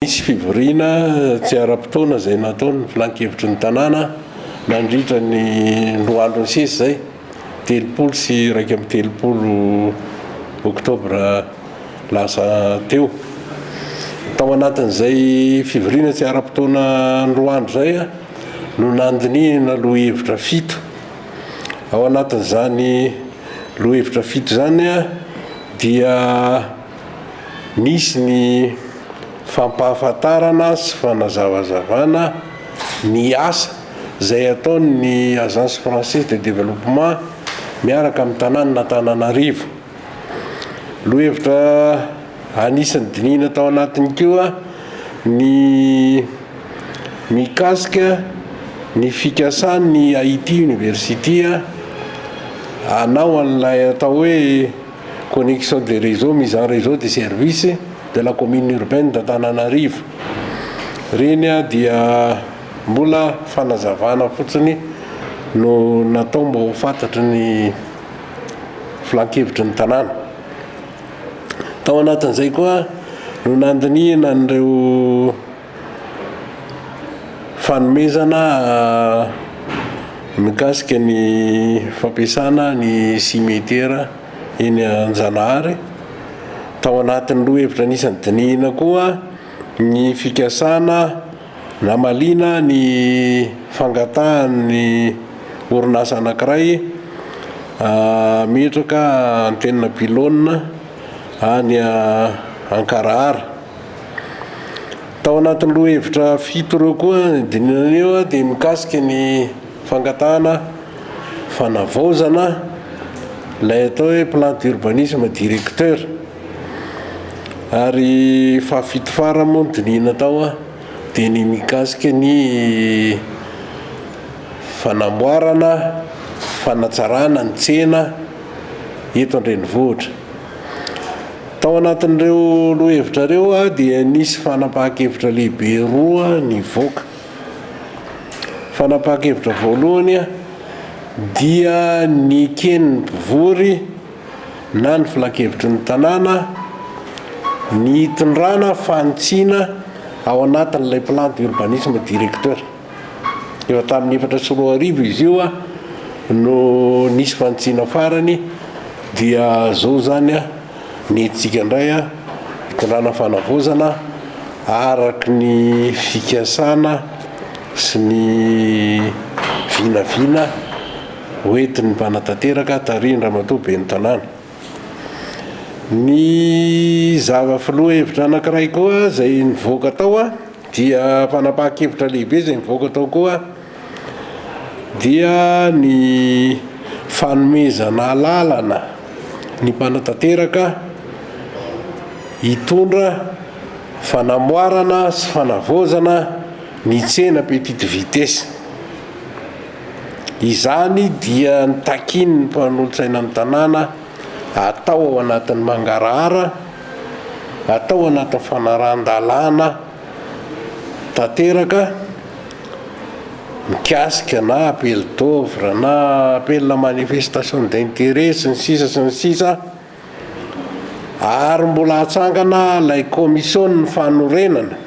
Nisy fivoriana tsy ara-potoana izay nataon'ny Filan-kevitry ny tanàna nandritra ny roa andro nisesy izay, telopolo sy iraika amby telopolo oktobra lasa teo. Tao anatin'izay fivoriana tsy ara-potoana roa andro izay no nandinihina lohahevitra fito. Ao anatin'izany lohahevitra fito izany dia. Misy ny fampahafantarana sy fanazavazavana ny asa izay ataon' ny Agence Française de Développement miaraka amin'ny Tanànan' Antananarivo. Lohahevitra anisan'ny dinihina tao anatiny koa ny mikasika ny fikasan'ny Haiti University hanao an'ilay atao hoe Connexion des réseaux mis en réseau des services de la commune urbaine d'Antananarivo. Ireny dia mbola fanazavana fotsiny no natao mba ho fantatry ny filankevitry ny tanàna. Tao anatin'izay koa no nandinihina an'ireo. Fanomezana mikasika ny fampiasana ny simetera eny Anjanahary. Tao anatin'ny roa hevitra anisan'ny dinihina koa ny fikasana namaliana ny fangatahan'ny orinasa anankiray hametraka antenina pylone any Ankarahara. Tao anatin'ny lohahevitra fito ireo koa ny dinana io dia mikasika ny fangatahana fanavaozana ilay atao hoe plan d'urbanisme directeur ary fahafito farany moa ny dinihina tao dia ny mikasika ny fanamboarana fanatsarana ny tsena eto an-drenivohitra. Tao anatin'ireo lohahevitra ireo dia nisy fanapahan-kevitra lehibe roa nivoaka. Fanapahan-kevitra voalohany dia neken'ny mpivory na ny filankevitry ny tanàna ny hitondrana fanitsiana ao anatin'ilay plan d'urbanisme directeur. Efa tamin'ny efatra sy roa arivo izy io no nisy fanitsiana farany dia zao zany ny hetsika indray hitondrana fanavaozana araky ny fikasana sy ny vinavina hoentin'ny mpanatanteraka tarihin-dRamatoa Ben'ny Tanàna. Ny zava-filoha hevitra anankiray koa izay nivoaka tao Dia fanapahan-kevitra lehibe izay nivoaka tao koa dia ny fanomezana alalana ny mpanatanteraka hitondra fanamoarana sy fanavaozana ny tsena petite vitesse. Izany dia nitakian'ny mpanolotsaina ny tanàna. atao ao anatin'ny mangarahara, atao anatin'ny fanarahan-dalàna tanteraka mikasika na appel d'oeuvre na appel à manifestation d'intérêt sy ny sisa sy ny sisa ary mbola hatsangana ilay kaomision'ny fanorenana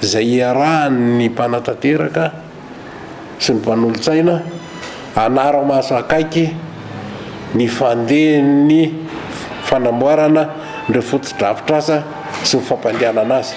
izay iarahan'ny mpanatanteraka. sy ny mpanolotsaina hanara-maso akaiky ny fandehan'ny fanamboarana ireo fotodrafitrasa sy ny fampandehanana azy.